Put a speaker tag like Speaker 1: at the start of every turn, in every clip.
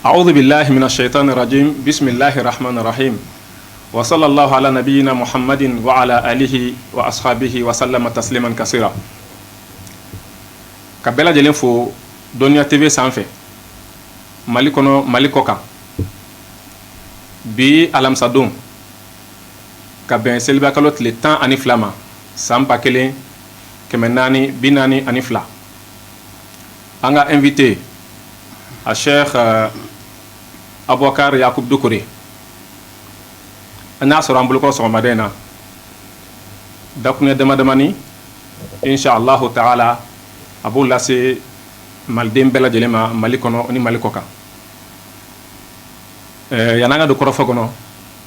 Speaker 1: Awdu bilahi mina shɛyitani rajimi bisimilahi rahamani rahimi wa salalahu ala nabiyina muhamadi wa ala alihi wa asahabihi wa salama taslima kasira ka bɛɛ lajɛlen fo dɔnniya TV sanfɛ mali kɔnɔ mali kɔkan bi alamisadon ka bɛn selibakalo tile tan ani fila ma san ba kelen kɛmɛ naani bi naani ani fila An ka invité a Cheikh Aboubakar Yacoub Doucouré an y'a sɔrɔ an bolokɔrɔ sɔgɔmada in na dakuruɲɛ damadamani insha Allahu taala a b'o lase Maliden bɛɛ lajɛlen ma Mali kɔnɔ ni Mali kɔkan. Ɛɛ yan'an ka don kɔrɔfo kɔnɔ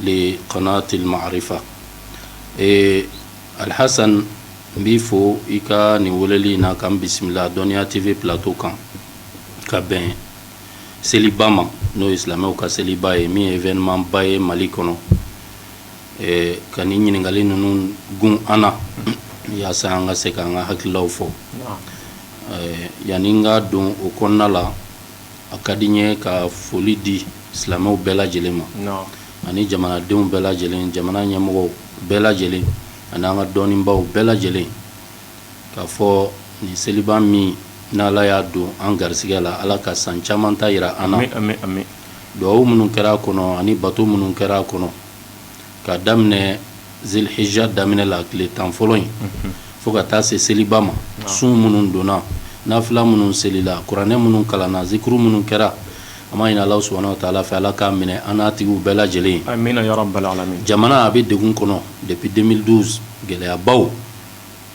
Speaker 2: li kanati marifa ee alhassan n b'i fo i ka nin weleli in na ka n bisimila dɔnniya TV plateau kan ka bɛn seliba ma n'o ye silamɛw ka seliba ye min ye événementba ye mali kɔnɔ ka nin ɲininkali ninnu gun an na yaasa an ka se k'an ka hakililaw fɔ yanni n ka don o kɔnɔna la a ka di n ye ka foli di silamɛw bɛɛ lajɛlen ma ani jamanadenw bɛɛ lajɛlen jamana ɲɛmɔgɔw bɛɛ lajɛlen ani an ka dɔnnibaw bɛɛ lajɛlen k'a fɔ nin seliba min n'ala y'a don an garisigɛ la ala ka san caman ta yira an na dugawu minnu kɛra a kɔnɔ ani bato minnu kɛra a kɔnɔ k'a daminɛ zilhija daminɛ la tile tan fɔlɔ in fo ka taa se seliba ma sun minnu donna nafila minnu selila kuranɛ minnu kalanna zikuru minnu kɛra an b'a ɲini ala subhanahu wa taala fɛ ala k'a minɛ an n'a tigiw bɛɛ
Speaker 1: lajɛlen ye jamana a bɛ degun kɔnɔ
Speaker 2: depuis deux mille douze gɛlɛyabaw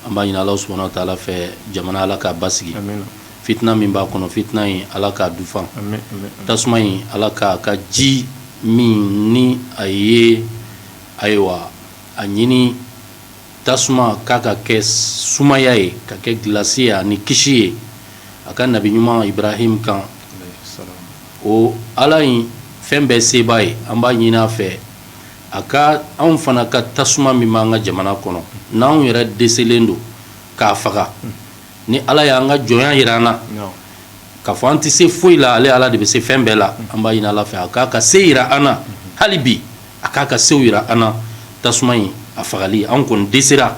Speaker 2: an b'a ɲini Alahu subahana wataala fɛ jamana Ala k'a basigi, amina, fitina min b'a kɔnɔ fitina in Ala k'a dufan, amin, tasuma in Ala k'a ka ji min ni a ye ayiwa a ɲini tasuma k'a ka kɛ sumaya ye ka kɛ gilasi ye ani kisi ye a ka nabi ɲuman Ibrahim kan o Ala in fɛn bɛɛ sebaa ye an b'a ɲini a fɛ a ka anw fana ka tasuma min b'an ka jamana kɔnɔ n'anw yɛrɛ deselen don k'a faga ni ala y'an ka jɔnya yira an na k'a fɔ an tɛ se foyi la ale ala de bɛ se fɛn bɛɛ la an b'a ɲini ala fɛ a k'a ka se yira an na hali bi a k'a ka sew yira an na tasuma in a fagali an kɔni desera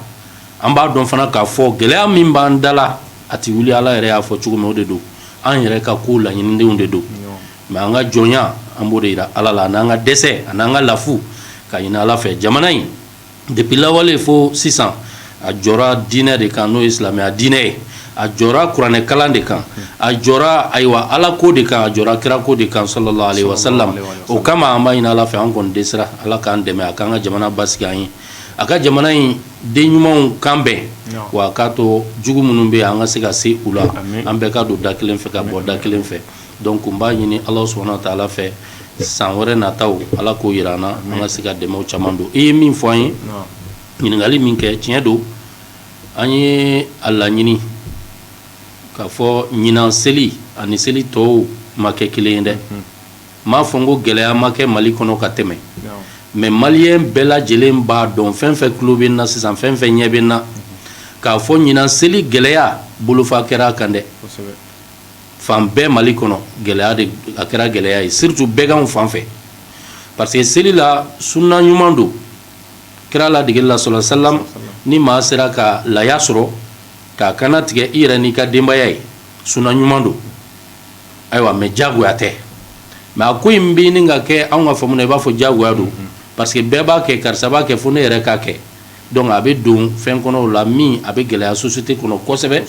Speaker 2: an b'a dɔn fana k'a fɔ gɛlɛya min b'an da la a tɛ wuli ala yɛrɛ y'a fɔ cogo min o de don an yɛrɛ ka ko laɲinidenw de don mais an ka jɔnya an b'o de jira ala la an'an ka dɛsɛ an'an ka lafu k'a ɲini ala fɛ jamana in depuis lawale fo sisan a jɔra diinɛ de kan n'o ye silamɛya diinɛ ye a jɔra kuranɛ kalan de kan a jɔra ayiwa ala ko de kan a jɔra kira ko de kan sallallahu alaihi wasallam o kama an b'a ɲini ala fɛ an kɔni dɛsɛra ala k'an dɛmɛ a k'an ka jamana basigi an ye a ka jamana in den ɲumanw kan bɛn wa a k'a to jugu minnu bɛ yen an ka se ka se u la an bɛɛ ka don da kelen fɛ ka bɔ da kelen fɛ Donc n b'a ɲini ala subhanahu wa taala fɛ san wɛrɛ nataw ala k'o jira an na an ka se ka dɛmɛw caman don i ye min fɔ an ye ɲininkali min kɛ tiɲɛ don an ye a laɲini k'a fɔ ɲinan seli ani seli tɔw ma kɛ kelen ye dɛ n m'a fɔ n ko gɛlɛya ma kɛ mali kɔnɔ ka tɛmɛ mais maliyɛn bɛɛ lajɛlen b'a dɔn fɛn fɛn tulo bɛ n na sisan fɛn fɛn ɲɛ bɛ n na k'a fɔ ɲinan seli gɛlɛya bolofa kɛra a kan dɛ fan bɛɛ mali kɔnɔ gɛlɛya a kɛra gɛlɛya ye surtout bɛganw fan fɛ parce que seli la sunna ɲuman don kira ladegeli la sallallahu alaihi wasallam ni maa sera ka laya sɔrɔ k'a kannatigɛ i yɛrɛ n'i ka denbaya ye sunna ɲuman don ayiwa mais jagoya tɛ mais a ko in bɛ ɲini ka kɛ anw ka faamu na i b'a fɔ jagoya don parce que bɛɛ b'a kɛ karisa b'a kɛ fo ne yɛrɛ k'a kɛ donc a bɛ don fɛn kɔnɔ o la min a bɛ gɛlɛya société kɔnɔ kosɛbɛ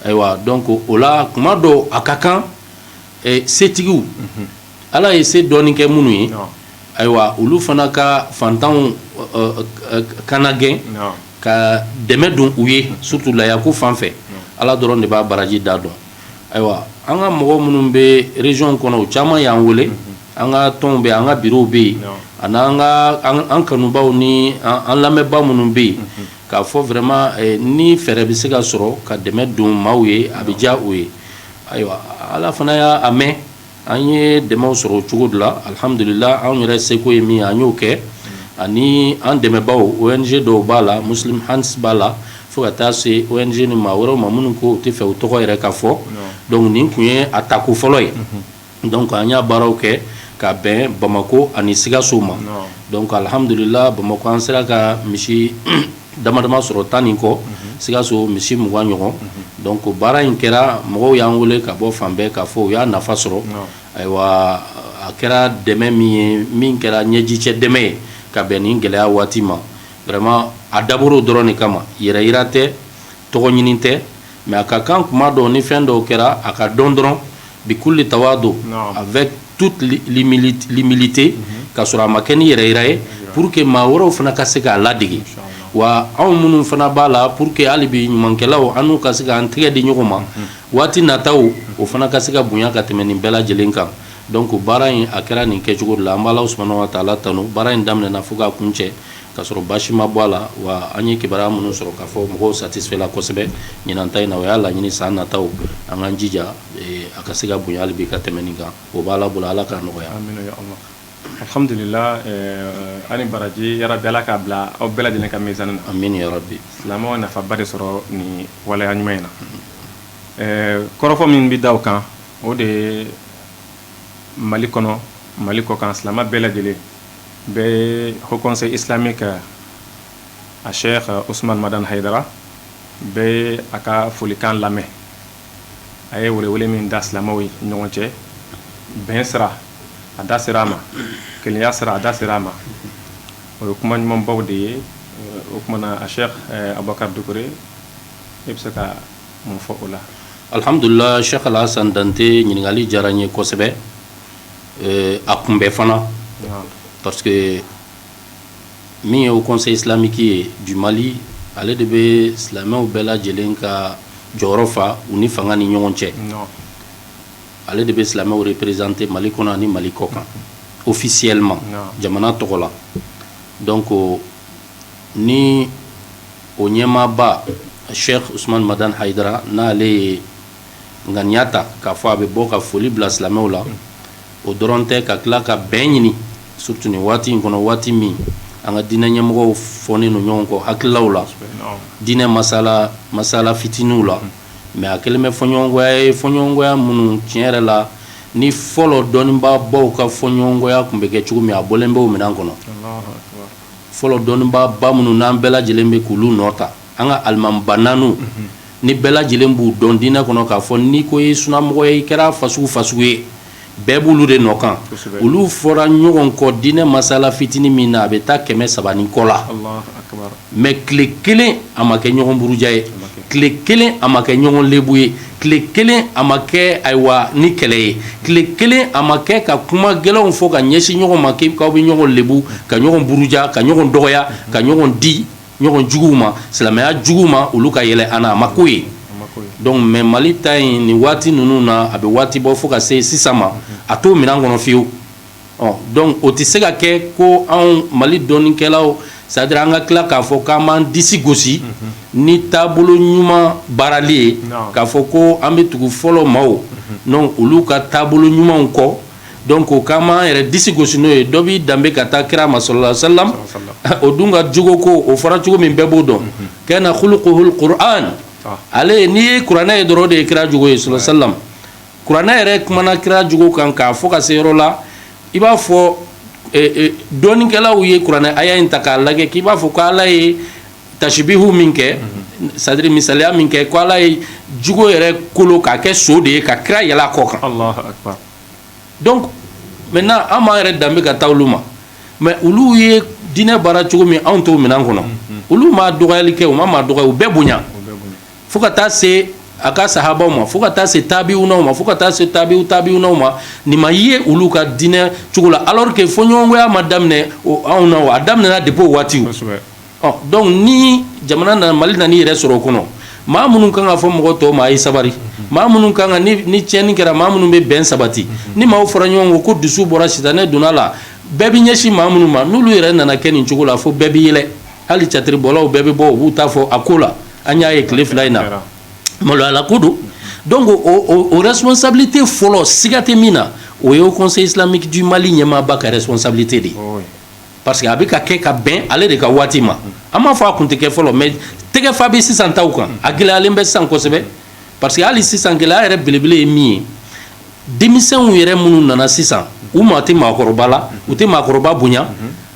Speaker 2: ayiwa donc o la kuma dɔ a ka kan setigiw ala ye se dɔɔnin kɛ minnu ye ayiwa olu fana ka fantanw kana gɛn ka dɛmɛ don u ye surtout layako fan fɛ ala dɔrɔn de b'a baraji da dɔn ayiwa an ka mɔgɔ minnu bɛ région kɔnɔ o caman y'an weele an ka tɔnw bɛ an ka birow bɛ yen ani an ka an kanubaw ni an lamɛnbaa minnu bɛ yen k'a fɔ vraiment ni fɛɛrɛ bɛ se ka sɔrɔ ka dɛmɛ don maaw ye a bɛ diya o ye ayiwa ala fana y'a mɛn an ye dɛmɛw sɔrɔ o cogo de la alihamdulila anw yɛrɛ seko ye min an y'o kɛ ani an dɛmɛbaaw ONG dɔw b'a la Muslim Hands b'a la fo ka taa se ONG ni maa wɛrɛw ma minnu ko u t'a fɛ u tɔgɔ yɛrɛ ka fɔ donc nin tun ye a tako fɔlɔ ye donc an y'a baaraw kɛ ka bɛn bamakɔ ani sikaso ma donc alihamdulila bamakɔ an sera ka misi dama dama sɔrɔ tan ni kɔ sikaso misi mugan ɲɔgɔn donc baara in kɛra mɔgɔw y'an wele ka bɔ fan bɛɛ k'a fɔ u y'a nafa sɔrɔ ayiwa a kɛra dɛmɛ min ye min kɛra ɲɛjicɛ dɛmɛ ye ka bɛn nin gɛlɛya waati ma vraiment a dabɔra o dɔrɔn de kama yɛrɛ yira tɛ tɔgɔ ɲini tɛ mais a ka kan kuma dɔw ni fɛn dɔw kɛra a ka dɔn dɔrɔn bikulli tawadu avec toute humilité ka sɔrɔ a ma kɛ ni yɛrɛyira ye pour que maa wɛrɛw fana ka se k'a ladege wa anw minnu fana b'a la pour que hali bi ɲumankɛlaw an n'u ka se k'an tɛgɛ di ɲɔgɔn ma waati nataw o fana ka se ka bonya ka tɛmɛ nin bɛɛ lajɛlen kan donc baara in a kɛra nin kɛcogo de la an b'Ala subhanahu wa ta'ala tanu baara in daminɛna fo k'a kuncɛ Ka sɔrɔ basi ma bɔ a la wa an ye kibaruya minnu sɔrɔ k'a fɔ mɔgɔw satisfait la kosɛbɛ ɲinan ta in na o y'a laɲini san nataw an k'an jija a ka se ka bonya hali bi ka tɛmɛ nin kan o b'Ala bolo Ala k'a nɔgɔya
Speaker 1: alhamdulillah ani baraji ya rabbi Ala k'a bila aw bɛɛ lajɛlen ka mizani na amin ya rabbi silamɛw
Speaker 2: nafaba
Speaker 1: de sɔrɔ nin waleya ɲuman in na kɔrɔfɔ min bɛ da o kan o de ye mali kɔnɔ mali kɔ kan silamɛ bɛɛ lajɛlen bɛɛ ye haut conseil islamique a cheikh Ousmane Madane Haidara bɛɛ ye a ka folikan lamɛn a ye welewele min da silamɛw ye ɲɔgɔn cɛ bɛn sira a da sera a ma kelenya sira a da sera a ma o ye kuma ɲumanbaw de ye o kuma na a cheikh eh, Abubakar Dukure e bɛ se ka mun fɔ o la alhamdulillah
Speaker 2: cheikh Alhassane Dante ɲininkali diyara n ye kosɛbɛ a kun bɛ fana parce que min ye haut conseil islamique ye du mali ale de bɛ silamɛw bɛɛ lajɛlen ka jɔyɔrɔ fa u ni fanga ni ɲɔgɔn cɛ ale de bɛ silamɛw représenter mali kɔnɔ ani mali kɔ kan officiellement jamana tɔgɔ la donc ni o ɲɛmaaba cheikh Ousmane Madane Haidara n'ale ye ŋaniya ta k'a fɔ a bɛ bɔ ka foli bila silamɛw la o dɔrɔn tɛ ka tila ka bɛn ɲini surtout nin waati in kɔnɔ waati min an ka diinɛ ɲɛmɔgɔw fɔlen don ɲɔgɔn kɔ hakililaw la diinɛ masala fitiniw la mais a kɛlen bɛ fɔɲɔgɔnkɔya ye fɔɲɔgɔnkɔya minnu tiɲɛ yɛrɛ la ni fɔlɔ dɔnnibaabaw ka fɔɲɔgɔnkɔya tun bɛ kɛ cogo min a bɔlen bɛ o minɛn kɔnɔ fɔlɔ dɔnnibaaba minnu n'an bɛɛ lajɛlen bɛ k'olu nɔ ta an ka alimamiba naani ni bɛɛ lajɛlen b'u dɔn diinɛ kɔnɔ k'a fɔ n'i ko i ye sunamɔgɔ ye i kɛra fasugu fasugu ye bɛɛ b'olu de nɔ kan olu fɔra ɲɔgɔn kɔ diinɛ masala fitinin min na a bɛ taa kɛmɛ saba ni kɔ la mais tile kelen a ma kɛ ɲɔgɔn buruja ye tile kelen a ma kɛ ɲɔgɔn lebu ye tile kelen a ma kɛ ayiwa ni kɛlɛ ye tile kelen a ma kɛ ka kuma gɛlɛnw fɔ ka ɲɛsin ɲɔgɔn ma k'aw bɛ ɲɔgɔn lebu ka ɲɔgɔn buruja ka ɲɔgɔn dɔgɔya ka ɲɔgɔn di ɲɔgɔn juguw ma silamɛya juguw ma olu ka yɛlɛ an na a ma ko ye donc mais mali ta in nin waati ninnu na a bɛ waati bɔ fo ka se sisan ma a t'o minɛn kɔnɔ fewu ɔ donc o tɛ se ka kɛ ko anw mali dɔnnikɛlaw c'est à dire an ka tila k'a fɔ k'an b'an disi gosi ni taabolo ɲuman baarali ye k'a fɔ ko an bɛ tugu fɔlɔ maaw donc olu ka taabolo ɲumanw kɔ donc o k'an b'an yɛrɛ disi gosi n'o ye dɔ b'i danbe ka taa kira ma sallallahu alaihi wa sallam o dun ka jogo ko o fɔra cogo min bɛɛ b'o dɔn kana khuluquhul qur'an ale n'i ye kuranɛ ye dɔrɔn o de ye kira jogo ye sallallahu alaihi wa sallam kuranɛ yɛrɛ kumana kira jogo kan k'a fɔ ka se yɔrɔ la i b'a fɔ dɔnnikɛlaw ye kuranɛ aya in ta k'a lajɛ k'i b'a fɔ ko ala ye tashibihu min kɛ c'est à dire misaliya min kɛ ko ala ye jogo yɛrɛ kolo k'a kɛ so de ye ka kira yɛlɛn a kɔ kan donc maintenant an b'an yɛrɛ danbe
Speaker 1: ka
Speaker 2: taa olu ma mais olu ye diinɛ baara cogo min anw t'o minɛn kɔnɔ olu ma dɔgɔyali kɛ u ma maa dɔgɔya u bɛɛ bonya fo ka taa se a ka sahabaw ma fo ka taa se tabiwunaw ma fo ka taa se tabiw tabiwunaw ma nin ma ye olu ka diinɛ cogo la alors que fɔɲɔgɔnkɔya ma daminɛ anw na o a daminɛna depuis o waatiw Ɔ donc ni jamana nana mali nana i yɛrɛ sɔrɔ o kɔnɔ maa minnu kan k'a fɔ mɔgɔ tɔw ma a ye sabari maa minnu kan ka ni tiɲɛni kɛra maa minnu bɛ bɛn sabati ni maaw fɔra ɲɔgɔn kɔ ko dusu bɔra sitanɛ donna a la bɛɛ bɛ ɲɛsin maa minnu ma n'olu yɛrɛ nana kɛ nin cogo la fo bɛɛ bɛ yɛlɛ hali catiribɔlaw bɛɛ bɛ bɔ u b'u ta fɔ a ko la an y'a ye tile fila in na maloyala ko don donc o responsabilité fɔlɔ siga tɛ min na o ye haut conseil islamique du mali ɲɛmaaba ka responsabilité de ye parce que a bɛ ka kɛ ka bɛn ale de ka waati ma an m'a fɔ a kun tɛ kɛ fɔlɔ mais tɛgɛfa bɛ sisan taw kan a gɛlɛyalen bɛ sisan kosɛbɛ parce que hali sisan gɛlɛya yɛrɛ belebele ye min ye denmisɛnw yɛrɛ minnu nana sisan u maa tɛ maakɔrɔba la u tɛ maakɔrɔba bonya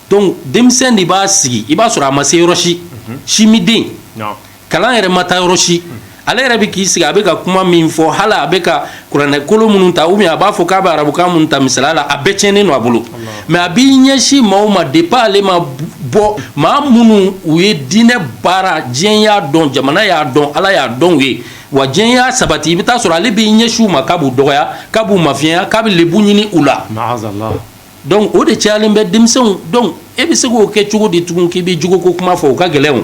Speaker 2: donc denmisɛn de b'a sigi i b'a sɔrɔ a ma se yɔrɔ si simiden kalan yɛrɛ ma taa yɔrɔ si ale yɛrɛ bɛ k'i sigi a bɛ ka kuma min fɔ hali a bɛ ka kuranɛ kolo minnu ta ou bien a b'a fɔ k'a bɛ arabukan minnu ta misaliya la a bɛɛ tiɲɛnen don a bolo mais a b'i ɲɛsin maaw ma depuis ale ma bɔ maa minnu u ye diinɛ baara diɲɛ y'a dɔn jamana y'a dɔn ala y'a dɔn u ye wa diɲɛ y'a sabati i bɛ taa sɔrɔ ale b'i ɲɛsin u ma k'a b'u dɔgɔya k'a b'u mafiɲɛya k'a bɛ lebu ɲini u la donc o de cayalen bɛ denmisɛnw donc e bɛ se k'o kɛ cogo di tugun k'i bɛ jogo ko kuma fɔ o ka gɛlɛn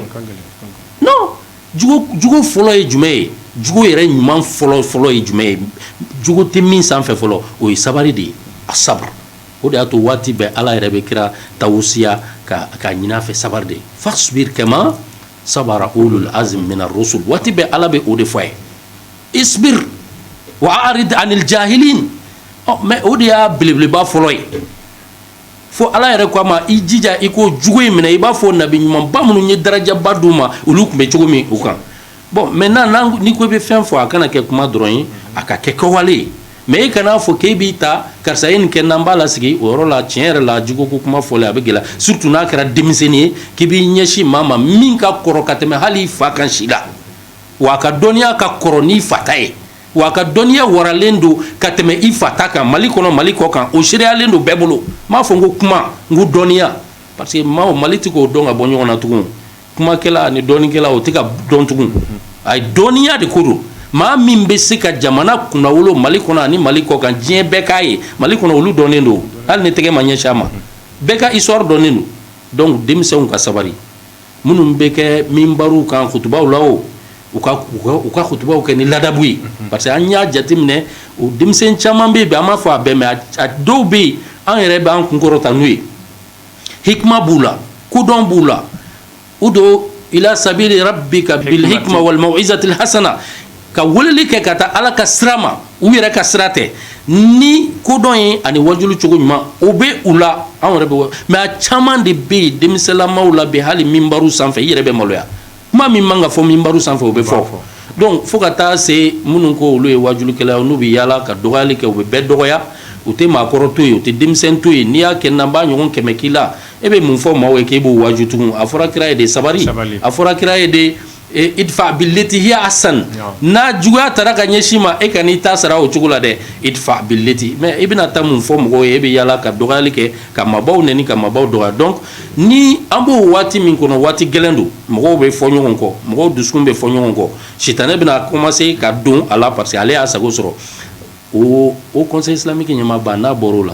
Speaker 2: jogo fɔlɔ ye jumɛn ye jogo yɛrɛ ɲuman fɔlɔ fɔlɔ ye jumɛn ye jogo tɛ min sanfɛ fɔlɔ o ye sabali de ye a sabu o de y'a to waati bɛɛ ala yɛrɛ bɛ kira tawusiya k'a ɲini a fɛ sabari de fasbir kama sabara ulul azmi mina rusul waati bɛɛ ala bɛ o de fɔ a ye isbir wa arid anil ja Mais o de y'a belebeleba fɔlɔ ye fo ala yɛrɛ ko a ma i jija i ka jogo in minɛ i b'a fɔ nabi ɲumanba minnu ye darajaba d'u ma olu tun bɛ cogo min u kan bon maintenant ni ko i bɛ fɛn fɔ a kana kɛ kuma dɔrɔn ye a ka kɛ kɛwale ye mais e kan'a fɔ k'i b'i ta karisa ye nin kɛ n'an b'a lasigi o yɔrɔ la tiɲɛ yɛrɛ la jogo ko kuma fɔ a bɛ gɛlɛya surtout n'a kɛra denmisɛnnin ye k'i b'i ɲɛsin maa ma min ka kɔrɔ ka tɛmɛ hali i fa kan si la wa a ka dɔnniya ka kɔrɔ n'i fa ta ye wa a ka dɔnniya waralen don ka tɛmɛ i fa ta kan mali kɔnɔ mali kɔ kan o sereyalen don bɛɛ bolo n m'a fɔ n ko kuma n ko dɔnniya parce que maaw mali tɛ k'o dɔn ka bɔ ɲɔgɔn na tugun kumakɛla ani dɔnnikɛla o tɛ ka dɔn tugun a ye dɔnniya de ko don maa min bɛ se ka jamana kunnawolo mali kɔnɔ ani mali kɔ kan diɲɛ bɛɛ k'a ye mali kɔnɔ olu dɔnnen don hali ni tɛgɛ ma ɲɛsin a ma bɛɛ ka histoire dɔnnen don donc denmisɛnw ka sabali minnu bɛ kɛ minbariw kan kutubaw la o u ka u ka kutubaw kɛ ni ladabu ye parce que an y'a jateminɛ o denmisɛn caman bɛ yen bi an m'a fɔ a bɛɛ mais a dɔw bɛ yen an yɛrɛ bɛ an kunkɔrɔta n'u ye hikma b'u la kodɔn b'u la ud'u ila sabili rabbika bil hikma wal mau'izatil hasana ka weleli kɛ ka taa ala ka sira ma u yɛrɛ ka sira tɛ ni kodɔn ye ani wajuli cogo ɲuman o bɛ u la anw yɛrɛ bɛ mais a caman de bɛ yen denmisɛnninlamaw la bi hali minbari sanfɛ i yɛrɛ bɛ maloya kuma min man ka fɔ minbari sanfɛ o bɛ fɔ donc fo ka taa se minnu ko olu ye wajulikɛla n'u bɛ yaala ka dɔgɔyali kɛ u bɛ bɛɛ dɔgɔya u tɛ maakɔrɔ to yen u tɛ denmisɛnnin to yen n'i y'a kɛ n' b'a ɲɔgɔn kɛmɛ k'i la e bɛ mun fɔ maaw ye k'e b'o waju tugun a fɔra kira ye de sabali a fɔra kira ye de idfa billati hiya ahsan ni juguya taara ka ɲɛsin i ma e kan'i ta sara o cogo la dɛ idfa billati mais i bɛna taa mun fɔ mɔgɔw ye e bɛ yaala ka dɔgɔyali kɛ ka maabaw nɛni ka maabaw dɔgɔya donc ni an b'o waati min kɔnɔ waati gɛlɛn don mɔgɔw bɛ fɔ ɲɔgɔn kɔ mɔgɔw dusukun bɛ fɔ ɲɔgɔn kɔ sitanɛ bɛna commencer ka don a la parce que ale y'a sago sɔrɔ o haut conseil islamique ɲɛmaaba n'a bɔra o la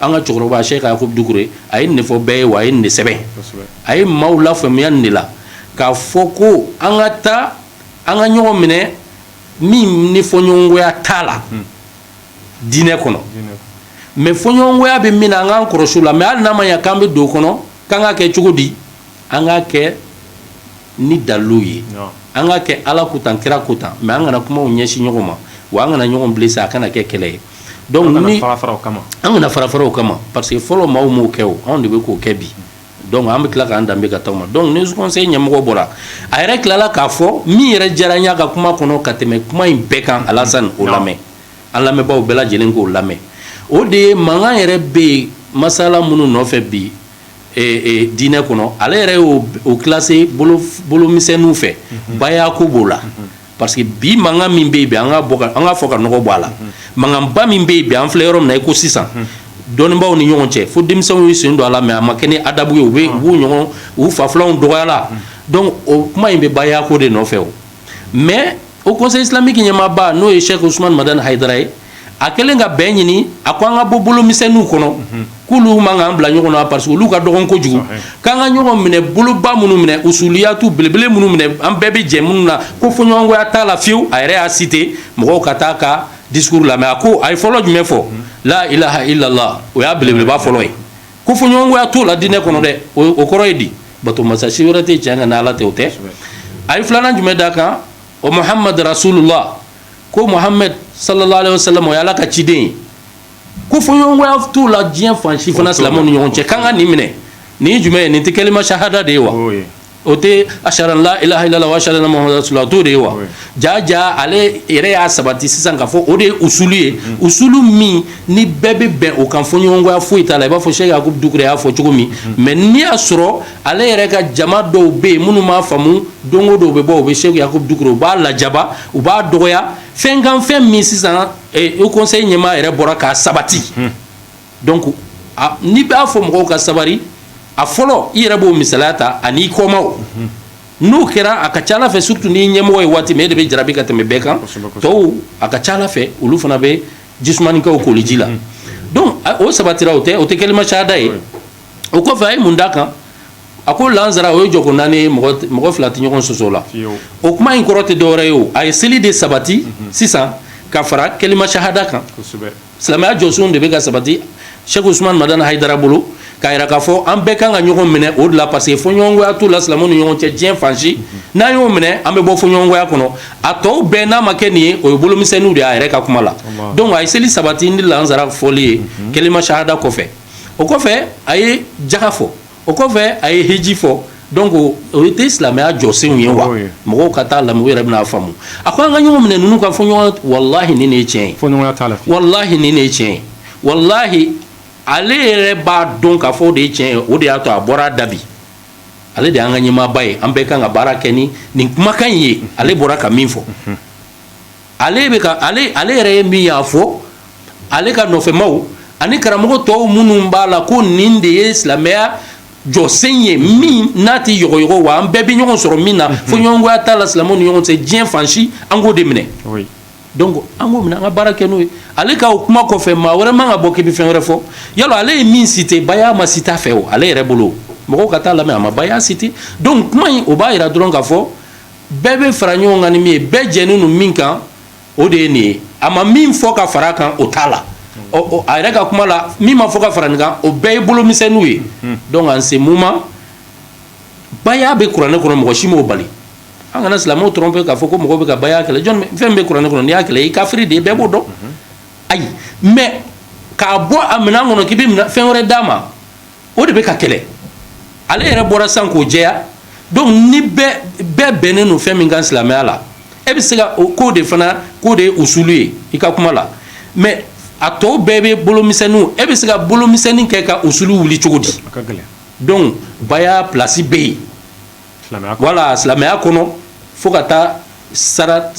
Speaker 2: an ka cɛkɔrɔba Cheick Yacouba Doucouré a ye nin fɔ bɛɛ ye wa a ye nin sɛbɛn a ye maaw lafaamuya nin de la k'a fɔ ko an ka taa an ka ɲɔgɔn minɛ min ni fɔɲɔgɔnkɔya t'a la diinɛ kɔnɔ mais fɔɲɔgɔnkɔya bɛ min na an k'an kɔlɔsi o la mais hali n'a ma ɲa k'an bɛ don o kɔnɔ k'an ka kɛ cogo di an ka kɛ ni dalilu ye an ka kɛ ala ko tan kira ko tan mais an kana kumaw ɲɛsin ɲɔgɔn ma wa an kana ɲɔgɔn blesser a kana kɛ kɛlɛ ye an kana fara fara o kama pa parce que fɔlɔ maaw m'o kɛ o anw de bɛ k'o kɛ bi donc an bɛ tila k'an danbebe ka taga ma donc ni conseil ɲɛmɔgɔ bɔra a yɛrɛ tilala k'a fɔ min yɛrɛ diyara n ye a ka kuma kɔnɔ ka tɛmɛ kuma in bɛɛ kan alasani o lamɛn an lamɛnbaaw bɛɛ lajɛlen k'o lamɛn o de ye mankan yɛrɛ bɛ yen masala minnu nɔfɛ bi diinɛ kɔnɔ ale yɛrɛ y'o classé bolomisɛnninw fɛ bayako b'o la parce que bi mankan min bɛ yen bi an k'a fɔ ka nɔgɔ bɔ a la mankanba min bɛ yen bi an filɛ yɔrɔ min na i ko sisan dɔnnibaaw ni ɲɔgɔn cɛ fo denmisɛnw y'u sen don a la mais a ma kɛ ni adabu ye u bɛ u u ɲɔgɔn u fa filanw dɔgɔyala donc o kuma in bɛ bayako de nɔfɛ o mais o conseil islamique ɲɛmaaba n'o ye cheikh ousmane madani hayidara ye a kɛlen ka bɛn ɲini a ko an ka bɔ bolo misɛnninw kɔnɔ k'olu man k'an bila ɲɔgɔn na parce que olu ka dɔgɔn kojugu k'an ka ɲɔgɔn minɛ boloba minnu minɛ usuliyatu belebele minnu minɛ an bɛɛ bɛ jɛ minnu na ko fɔɲɔgɔnkɔya t'a la fiyewu a yɛrɛ y'a cité mɔgɔw ka taa ka discours lamɛn a ko a ye fɔlɔ jumɛn fɔ la ilaha illallah o y'a belebeleba fɔlɔ ye ko fɔɲɔgɔnkɔya t'o la diinɛ kɔnɔ dɛ o kɔrɔ ye di bato masa si wɛrɛ tɛ cɛn kan ni ala tɛ o tɛ a ye filanan jumɛn d'a kan o muhammad rasulullah ko muhammad sallallahu alaihi wasallam o ye ala ka ciden ye ko fɔɲɔgɔnkɔya t'o la diɲɛ fan si fana silamɛw ni ɲɔgɔn cɛ k'an ka nin minɛ nin jumɛn ye nin tɛ kelima sahada de ye wa o tɛ ashhadu an la ilaha illallah wa ashhadu anna muhammadan rasulullah t'o de ye wa ja ja ale yɛrɛ y'a sabati sisan k'a fɔ o de ye usulu ye usulu min ni bɛɛ bɛ bɛn o kan fɔɲɔgɔnkɔya foyi t'a la i b'a fɔ cheikh yakubu dukure y'a fɔ cogo min mais n'i y'a sɔrɔ ale yɛrɛ ka jama dɔw bɛ yen minnu m'a faamu donc dɔw bɛ bɔ u bɛ cheikh yakubu dukure u b'a lajaba u b'a dɔgɔya fɛn kan fɛn min sisan o conseil ɲɛmaa yɛrɛ bɔra k'a sabati donc n'i b'a fɔ mɔgɔw ka sabari a fɔlɔ i yɛrɛ b'o misaliya ta ani i kɔmaaw n'o kɛra a ka ca fɛ surtout ni ɲɛmɔgɔ ye waati min e de bɛ jarabi ka tɛmɛ bɛɛ kan tɔw a ka ca fɛ olu fana bɛ ji sumanin kɛ u koliji la donc o sabatira o tɛ kelima sahada ye o kɔfɛ a ye mun d'a kan a ko lansara o ye jɔko naani ye mɔgɔ fila tɛ ɲɔgɔn sɔsɔ la o kuma in kɔrɔ tɛ dɔwɛrɛ ye a ye seli de sabati sisan ka fara kelima sahada kan silamɛya jɔsenw de bɛ ka sabati Sɛki Usumani Madani Hayidara bolo k'a yira k'a fɔ an bɛɛ kan ka ɲɔgɔn minɛ o de la parce que fɔɲɔgɔnkɔya t'u la silamɛw ni ɲɔgɔn cɛ diɲɛ fan si n'an y'o minɛ an bɛ bɔ fɔɲɔgɔnkɔya kɔnɔ a tɔw bɛɛ n'a ma kɛ nin ye o ye bolomisɛnninw de y'a yɛrɛ ka kuma la donc a ye seli sabati ni lansara fɔli ye kelima sahada kɔfɛ o kɔfɛ a ye jaga fɔ o kɔfɛ a ye hiji fɔ donc o ye tɛ silamɛya jɔsenw ye wa mɔgɔw ka taa lamɛn u yɛrɛ bɛn'a faamu a ko an ka ɲɔgɔn minɛ ninnu ka fɔ ɲɔgɔn walahi nin de ye tiɲɛ ye walahi nin de ye tiɲɛ ye walahi ale yɛrɛ b'a dɔn k'a fɔ o de ye tiɲɛ ye o de y'a to a bɔra dabi ale de y'an ka ɲɛmaaba ye an bɛɛ kan ka baara kɛ ni nin kumakan in ye ale bɔra ka min fɔ ale bɛ ka ale ale yɛrɛ ye min y'a fɔ ale ka nɔfɛmaw ani karamɔgɔ tɔw minnu b'a la ko nin de ye silamɛya jɔsen ye min n'a tɛ yɔgɔyɔgɔ wa an bɛɛ bɛ ɲɔgɔn sɔrɔ min na fɔɲɔgɔnkɔya t'a la silamɛw ni ɲɔgɔn cɛ diɲɛ fan si an k'o de minɛ donc an k'o minɛ an ka baara kɛ n'o ye ale ka o kuma kɔfɛ maa wɛrɛ man ka bɔ k'i bɛ fɛn wɛrɛ fɔ yala ale ye min citer baya ma citer a fɛ o ale yɛrɛ bolo mɔgɔw ka taa lamɛn a ma baya citer donc kuma in o b'a jira dɔrɔn k'a fɔ bɛɛ bɛ fara ɲɔgɔn kan ni min ye bɛɛ jɛnen don min kan o de ye nin ye a ma min fɔ ka fara a kan o t'a la ɔ a yɛrɛ ka kuma la min ma fɔ ka fara nin kan o bɛɛ ye bolomisɛnninw ye donc en ce moment baya bɛ kuranɛ kɔnɔ mɔgɔ si m'o bali an kana silamɛw tromper k'a fɔ ko mɔgɔw bɛ ka baya kɛlɛ jɔn fɛn bɛ kuranɛ kɔnɔ n'i y'a kɛlɛ i kafiri de ye bɛɛ b'o dɔn ayi mais k'a bɔ a minɛn kɔnɔ k'i bɛ fɛn wɛrɛ d'a ma o de bɛ ka kɛlɛ ale yɛrɛ bɔra san k'o jɛya donc ni bɛɛ bɛnnen don fɛn min kan silamɛya la e bɛ se ka o ko de fana k'o de ye usulu ye i ka kuma la mais a tɔw bɛɛ bɛ bolomisɛnninw e bɛ se ka bolomisɛnnin kɛ ka usulu wuli cogo di donc baya place bɛ yen voilà silamɛya kɔnɔ fo ka taa sara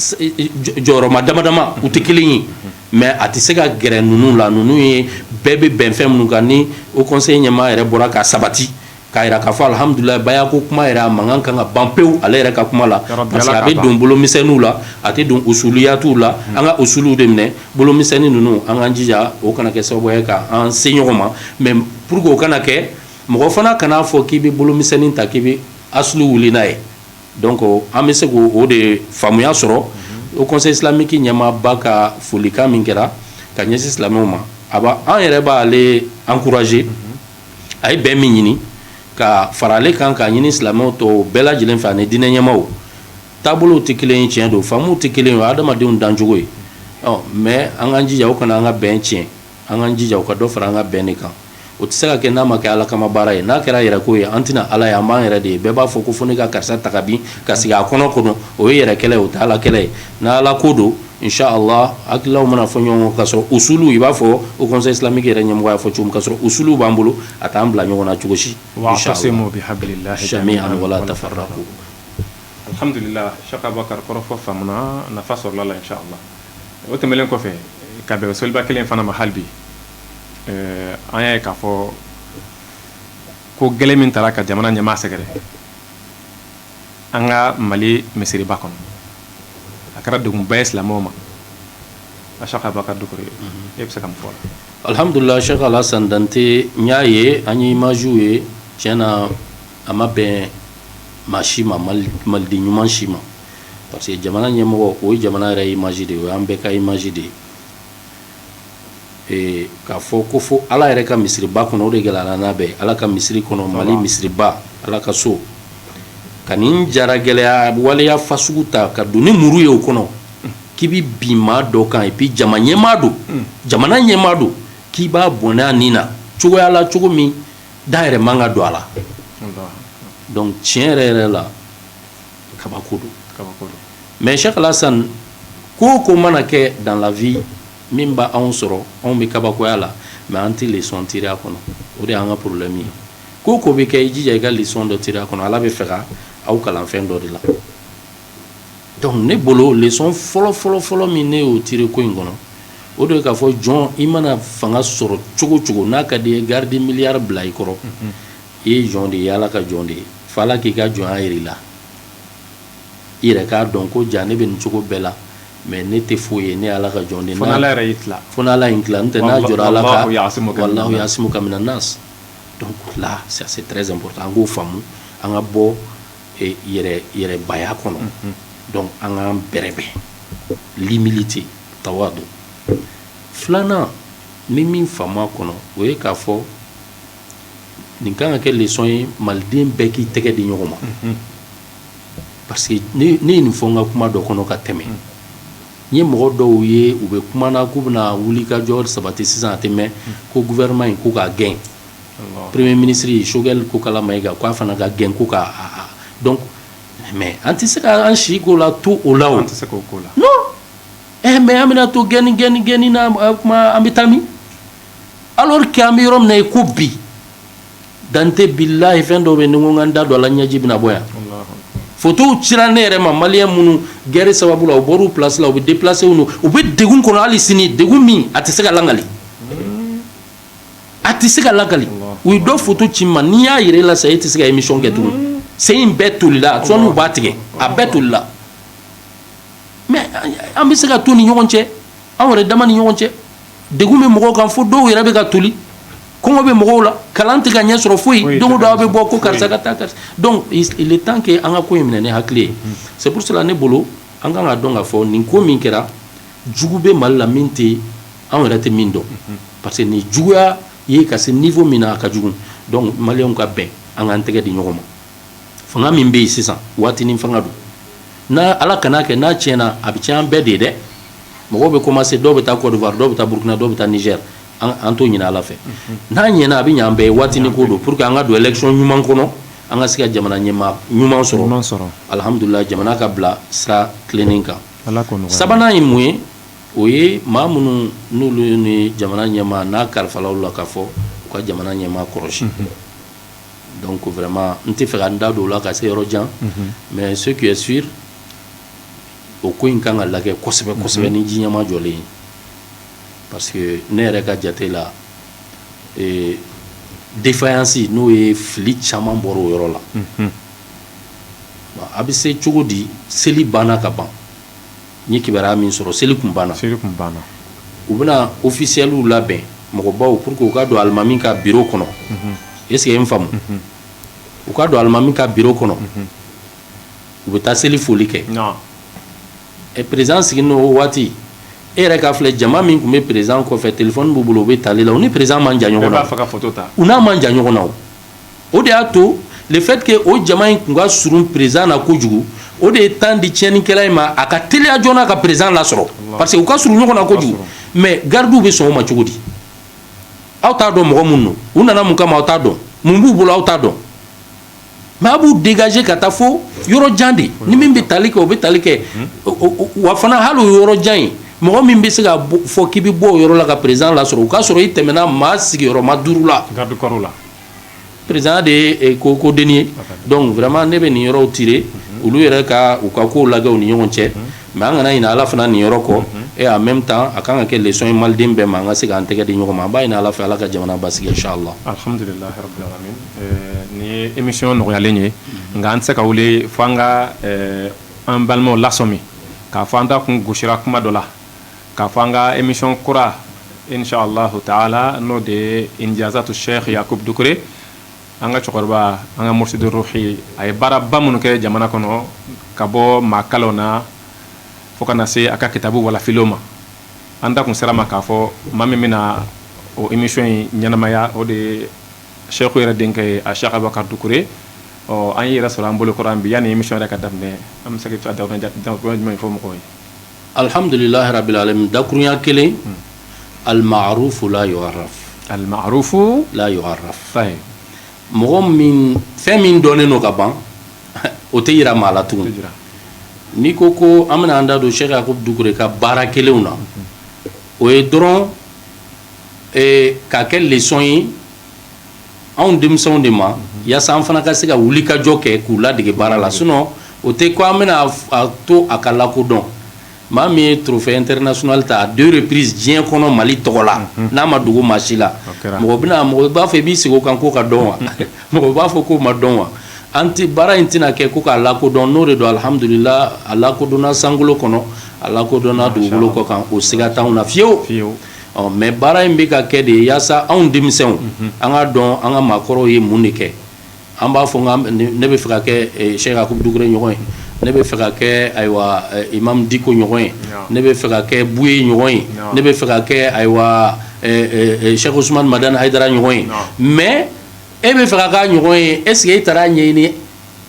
Speaker 2: jɔyɔrɔma damadama u tɛ kelen ye mais a tɛ se ka gɛrɛ ninnu la ninnu ye bɛɛ bɛ bɛn fɛn minnu kan ni o conseil ɲɛmaa yɛrɛ bɔra k'a sabati k'a jira k'a fɔ alihamudulilayi baya ko kuma yɛrɛ a mankan kan ka ban pewu ale yɛrɛ ka kuma la parce que a bɛ don bolomisɛnninw la a tɛ don usuluyatu la an ka usulu de minɛ bolomisɛnnin ninnu an k'an jija o kana kɛ sababu ye k'an se ɲɔgɔn ma mais pour o kana kɛ mɔgɔ fana kan'a fɔ k'i bɛ bolomisɛnnin ta k'i bɛ asulu wuli n'a ye donc an bɛ se k'o de faamuya sɔrɔ o conseil islamique ɲɛmaaba ka folikan min kɛra ka ɲɛsin silamɛw ma a an yɛrɛ b'ale encourager a ye bɛn min ɲini ka fara ale kan k'a ɲini silamɛw tɔ bɛɛ lajɛlen fɛ ani diinɛ ɲɛmaaw taabolo tɛ kelen ye tiɲɛ don faamu tɛ kelen ye o ye adamadenw dancogo ye mais an k'an jija o kana an ka bɛn tiɲɛ An k'an jija o ka dɔ fara an ka bɛn de kan o tɛ se ka kɛ n'a ma kɛ ala kama baara ye n'a kɛra yɛrɛ ko ye an tɛna ala ye an b'an yɛrɛ de ye bɛɛ b'a fɔ ko fo ne ka karisa ta ka bin ka sigi a kɔnɔ kɔnɔ o ye yɛrɛ kɛlɛ ye o tɛ ala kɛlɛ ye n'ala ko don inshallah hakililaw mana fɔ ɲɔgɔn kɔ ka sɔrɔ usulu i b'a fɔ o conseil islamique yɛrɛ ɲɛmɔgɔ y'a fɔ cogo min ka sɔrɔ usulu b'an bolo a t'an bila ɲɔgɔn na cogo si
Speaker 1: o tɛmɛnlen kɔfɛ ka bɛn seliba kelen fana ma hali bi an y'a ye k'a fɔ ko gɛlɛn min taara ka jamana ɲɛmaa sɛgɛrɛ an ka mali misiriba kɔnɔ a kɛra degunba ye silamɛw ma a Cheikh Abubakar Dukure e bɛ se ka mun fɔ o la alhamdulillah Cheikh
Speaker 2: Alassane Dante n y'a ye an ye imagew ye tiɲɛ na a ma bɛn maa si ma maliden ɲuman si ma parce que jamana ɲɛmɔgɔ o ye jamana yɛrɛ image de ye o y'an bɛɛ ka image de ye k'a fɔ ko fo ala yɛrɛ ka misiriba kɔnɔ o de gɛlɛn n'a bɛɛ ala ka misiri kɔnɔ mali misiriba ala ka so ka nin jara gɛlɛya waleya fasugu ta ka don ni muru ye o kɔnɔ k'i bɛ bin maa dɔ kan et puis jama ɲɛmaa don jamana ɲɛmaa don k'i b'a bɔnɛ a nin na cogoya la cogo min da yɛrɛ man ka don a la donc tiɲɛ yɛrɛ yɛrɛ la kabako don mais Cheikh Alassane ko ko mana kɛ dans la vie min b' anw sɔrɔ anw bɛ kabakoya la mais an tɛ leçon tirer a kɔnɔ o de y'an ka problème ye ko ko bɛ kɛ i jija i ka leçon dɔ tirer a kɔnɔ ala b'a fɛ k'aw kalan fɛn dɔ de la donc ne bolo leçon fɔlɔ fɔlɔfɔlɔ min ne y'o tirer ko in kɔnɔ o de k'a fɔ jɔn i mana fanga sɔrɔ cogo cogo n'a ka di i ye garde milliard bila i kɔrɔ i ye jɔn de ye ala ka jɔn de ye f'ala k'i ka jɔnya jira i la i yɛrɛ k'a dɔn ko ja ne bɛ nin cogo bɛɛ la mais ne tɛ foyi ye ne ala ka jɔn de ye ala yɛrɛ y'i tila fo n'ala y'i tila n'o tɛ n'a jɔra ala ka wallahu yasimuka mina nas là ça c'est très important an k'o faamu an ka bɔ yɛrɛbaya kɔnɔ donc an k'an bɛrɛbɛn l'humilité tawadu filanan n ye min faamu a kɔnɔ o ye k'a fɔ nin ka kan ka kɛ leçon ye maliden bɛɛ k'i tɛgɛ di ɲɔgɔn ma parce que ne ye nin fɔ n ka kuma dɔ kɔnɔ ka tɛmɛ n ye mɔgɔ dɔw ye u bɛ kuma na k'u bɛna wuli ka jɔ sabati sisan a tɛ mɛn ko gouvernement in ko k'a gɛn premier ministre Choguel Kokala Mayiga k'a fana ka gɛn ko k'a donc mais an tɛ se k'an si ko la to o la an tɛ se k'o ko la mais an bɛna to gɛnni gɛnni gɛnni na kuma an bɛ taa min alors que an bɛ yɔrɔ min na i ko bi Dante billahi fɛn dɔw bɛ yen ni n ko n ka n da don a la ɲɛji bɛna bɔ yan fotow cira ne yɛrɛ ma maliyɛn minnu gɛri sababu la u bɔr'u place la u bɛ déplacer n'u u bɛ degun kɔnɔ hali sini degun min a tɛ se ka langali a tɛ se ka lakali u ye dɔ foto ci n ma n'i y'a ye Alassane e tɛ se ka émission kɛ tugun mm. sen in bɛɛ tolila sɔɔni u b'a tigɛ a bɛɛ tolila mais an bɛ se ka to ni ɲɔgɔn cɛ an yɛrɛ dama ni ɲɔgɔn cɛ degun bɛ mɔgɔw kan fo dɔw yɛrɛ bɛ ka toli kɔngɔ bɛ mɔgɔw la kalan tɛ ka ɲɛ sɔrɔ foyi don o don aw bɛ bɔ ko karisa ka taa karisa donc il est temps que an ka ko in minɛ ni hakili ye c'est pour cela ne bolo an kan k'a dɔn k'a fɔ nin ko min kɛra jugu bɛ mali la min tɛ anw yɛrɛ tɛ min dɔn parce que nin juguya ye ka se niveau min na a ka jugu donc maliyɛnw ka bɛn an k'an tɛgɛ di ɲɔgɔn ma fanga min bɛ yen sisan waatinin fanga don n' ala kana kɛ n'a tiɲɛna a bɛ tiɲɛ an bɛɛ de ye dɛ mɔgɔw bɛ commencer dɔw bɛ taa Côte d'Ivoire dɔw bɛ taa burukina dɔw bɛ taa Niger an t'o ɲinin ala fɛ n'a ɲɛna a bɛ ɲɛ an bɛɛ ye waatinin ko don pour que an ka don élection ɲuman kɔnɔ an ka se ka jamana ɲɛmaa ɲuman sɔrɔ alihamdulila jamana ka bila sira tilennen kan sabanan ye mun ye o ye maa minnu n'olu ye jamana ɲɛmaa n'a kalifala u la k'a fɔ u ka jamana ɲɛmaa kɔlɔsi donc vraiment n tɛ fɛ ka n da don o la ka se yɔrɔ jan mais ce qui est sûr o ko in kan ka lajɛ kosɛbɛ kosɛbɛ ni ji ɲɛmajɔlen ye parce que ne yɛrɛ ka jate la défaillance n'o ye fili caman bɔra o yɔrɔ la a bɛ se cogo di seli banna ka ban N ye kibaruya min sɔrɔ seli tun banna, seli tun banna, u bɛna ofisiyɛliw labɛn mɔgɔbaw pour que u ka don alimami ka bureau kɔnɔ, unhun, est ce que i ye n faamu, unhun, u ka don alimami ka bureau kɔnɔ, unhun, u bɛ taa seli foli kɛ, naamu, ɛ president sigilen don o waati, e yɛrɛ k'a filɛ jama min tun bɛ president kɔfɛ telephone b'u bolo u bɛ tali la u ni president man jan ɲɔgɔn na, bɛɛ b'a fɛ ka photo ta, u n'a man jan ɲɔgɔn na o o de y'a to le fait que o jama in tun ka surun président na kojugu o de ye temps di tiɲɛnikɛla in ma a ka teliya joona ka président lasɔrɔ parce que u ka surun ɲɔgɔn na kojugu mais gardiw bɛ sɔn o ma cogo di aw t'a dɔn mɔgɔ minnu don u nana mun kama aw t'a dɔn mun b'u bolo aw t'a dɔn mais a b'u dégager ka taa fo yɔrɔ jan de ni min bɛ tali kɛ o bɛ tali kɛ wa fana hali o yɔrɔ jan in mɔgɔ min bɛ se k'a fɔ k'i bɛ bɔ o yɔrɔ la ka président lasɔrɔ o k'a sɔrɔ i tɛmɛna maa sigiyɔrɔma duuru la garde corps
Speaker 1: la président de
Speaker 2: ye ko dennin ye donc vraiment ne bɛ nin yɔrɔw tirer olu yɛrɛ ka u ka kow lajɛ u ni ɲɔgɔn cɛ mais an kana ɲinɛ ala fana nin yɔrɔ kɔ et en même temps a ka kan ka kɛ leçon ye maliden bɛɛ ma an ka se k'an tɛgɛ di ɲɔgɔn ma an b'a ɲini ala fɛ ala ka jamana basigi inchallah
Speaker 1: nin ye émission nɔgɔyalen ye nka an tɛ se ka wuli fo ka An balimaw lasɔmi k'a fɔ an da kun gosira kuma dɔ la k'a fɔ an ka émission kura insa alahu taala n'o de ye injazatu sɛki yakubu dukure an ka cɛkɔrɔba an ka mursidu ruhi a ye baaraba minnu kɛ jamana kɔnɔ ka bɔ maa kalanw na fo ka na se a ka kitabu walafilenw ma an da kun sera a ma k'a fɔ maa min bɛna o émission in ɲɛnamaya o de ye Sɛku yɛrɛ denkɛ ye a Sɛku Abubakar Dukure ɔ an y'e yɛrɛ sɔrɔ an bolo kɔrɔ an bi yanni émission yɛrɛ ka daminɛ an bɛ se ka dakurunya jumɛn fɔ mɔgɔw ye alihamdulilahi
Speaker 2: rabil alamin dakurunya kelen almarufu la yu'arraf almarufu
Speaker 1: la yu'arraf
Speaker 2: mɔgɔ fɛn min dɔnnen don ka ban o tɛ jira maa la tugun n'i ko ko an bɛna an da don Sɛku Yakubu Dukure ka baara kɛlenw na o ye dɔrɔn k'a kɛ leçon ye anw denmisɛnw de ma yaasa an fana ka se ka wulikajɔ kɛ k'u ladege baara la sinon o tɛ ko an bɛna to a ka lakodɔn maa min ye trophée international ta à deux reprises diɲɛ kɔnɔ mali tɔgɔ la n'a ma dogo maa si la mɔgɔ bɛna mɔgɔ b'a fɔ i b'i sigi kan ko ka dɔn wa mɔgɔ b'a fɔ ko ma dɔn wa an tɛ baara in tɛna kɛ ko k'a lakodɔn n'o de don alihamdulila a lakodɔnna sankolo kɔnɔ a lakodɔnna dugukolo kɔ kan o siga t'anw na fiyewu fiyewu ɔ mɛ baara in bɛ ka kɛ de yaasa anw denmisɛnw an ka dɔn an ka maakɔrɔw ye mun de kɛ an b'a fɔ ne bɛ fɛ ka kɛ Sɛku Yakubu Dukure ɲɔgɔn ye ne bɛ fɛ ka kɛ ayiwa imam Diko ɲɔgɔn ye ne bɛ fɛ ka kɛ Buye ɲɔgɔn ye ne bɛ fɛ ka kɛ ayiwa Sɛku Usumani Madani Hayidara ɲɔgɔn ye mɛ e bɛ fɛ ka k'a ɲɔgɔn ye est-ce que e taara a ɲɛɲini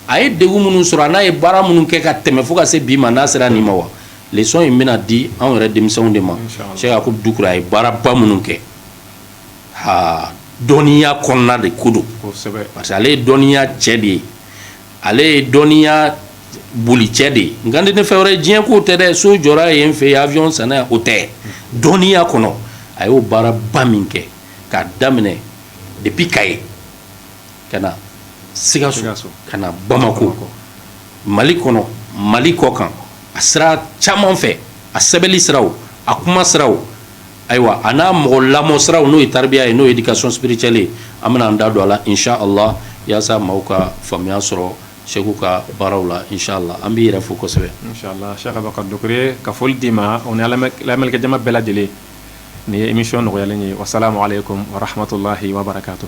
Speaker 2: a ye degun minnu sɔrɔ a n'a ye baara minnu kɛ ka tɛmɛ fo ka se bi ma n'a sera nin ma wa leçon in bɛna di anw yɛrɛ denmisɛnw de ma Sɛku Yakubu Dukure a ye baaraba minnu kɛ aa dɔnniya kɔnɔna de ko don parce que ale ye dɔnniya cɛ de ye ale ye dɔnniya boli cɛ de ye nka ne fɛn wɛrɛ diɲɛ ko tɛ dɛ so jɔra yen fɛ yen avion sanna o tɛ dɔnniya kɔnɔ a y'o baaraba min kɛ k'a daminɛ depuis Kayi ka na sikaso ka na bamakɔ mali kɔnɔ mali kɔ kan a sira caman fɛ a sɛbɛnni siraw a kuma siraw ayiwa a n'a mɔgɔ lamɔ siraw n'o ye taribiya ye n'o ye éducation spirituelle ye an bɛna an da don a la inchallah yaasa maaw ka faamuya sɔrɔ Sɛku ka baaraw la inchallah an b'i yɛrɛ fo kosɛbɛ Sɛku Abubakar
Speaker 1: Dukure ka foli d'i ma o ni lamɛnnikɛjama bɛɛ lajɛlen nin ye émission nɔgɔyalen ye wasalamu aleykum wa rahmatullahi wa barakatuh